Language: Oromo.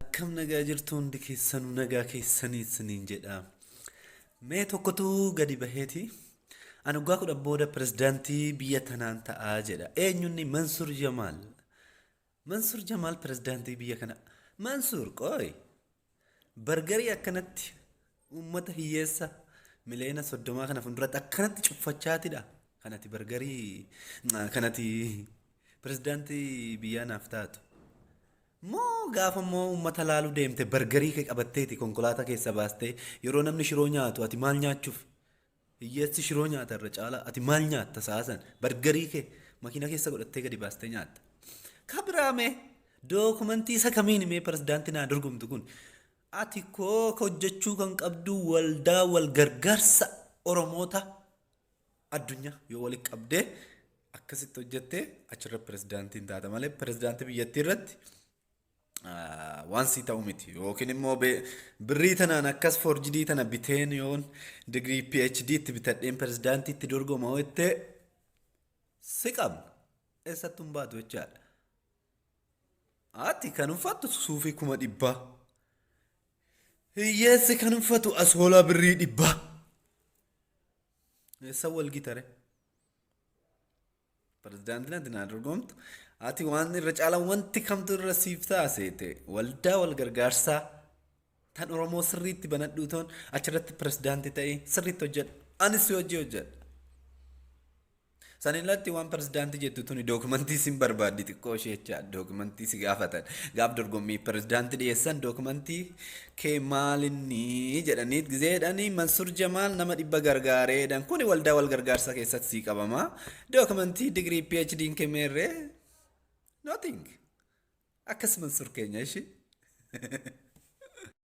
Akkam nagaa jirtu hundi keessanuu nagaa keessanii isiniin jedha. Mee tokkotu gadi baheeti. Ani waggaa kudhan booda pirezidaantii biyya tanaan ta'aa jedha. Eenyunni Mansur Jamaal. Mansur Jamaal pirezidaantii biyya kana. Mansur qooy. Bargarii akkanatti Uummata hiyyeessa miliyoona soddomaa kana fuulduratti akkanatti cuffachaatidha. Kanati bargarii kanati pirezidaantii biyyaa naaf taatu. Moo gaafa immoo uummata laaluu deemte bargarii kee qabatteeti konkolaataa keessa baastee yeroo namni shiroo nyaatu ati maal nyaachuuf Hiyyeessi shiroo nyaata irra caalaa ati maal nyaatta sa'a san bargarii kee makiina keessa godhattee gadi baastee nyaatta. Ka biraa mee dookumentii isa kamiin mee pirezidaantii naa dorgomtu kun ati koo ka hojjechuu kan qabdu waldaa wal gargaarsa Oromoota addunyaa yoo walitti qabdee akkasitti hojjettee achirra pirezidaantiin taata malee pirezidaantii biyyattii irratti waan sii ta'u miti yookiin immoo birrii tanaan akkas forjidii tana biteen yoon digirii PhD itti bitadheen pirezidaantii itti dorgoma jettee si qabna eessattuu hin baatu jechaadha. Ati kan uffattu suufii kuma dhibbaa. Hiyyeessi kan uffatu asoolaa birrii dhibbaa. Eessa wal gitare? Pirezidaantiin ati naa dorgomtu ati waan irra caalaan wanti kamtu irra siif taaseete waldaa wal gargaarsaa tan Oromoo sirriitti banadhuu toon achirratti pirezidaantii ta'ee sirriitti hojjedha. Anis si hojii hojjedha. San irratti waan pirezidaantii jettu tuni dookumantii sin barbaaddi xiqqoo ishee jecha dookumantii si gaafatan gaaf dorgommii pirezidaantii dhiyeessan dookumantii kee maalinni jedhanii gizeedhani Mansur Jamaal nama dhibba gargaareedhan kuni waldaa wal gargaarsaa keessatti sii qabama dookumentii digirii PhD hin kemeerree nothing akkas Mansur keenya ishi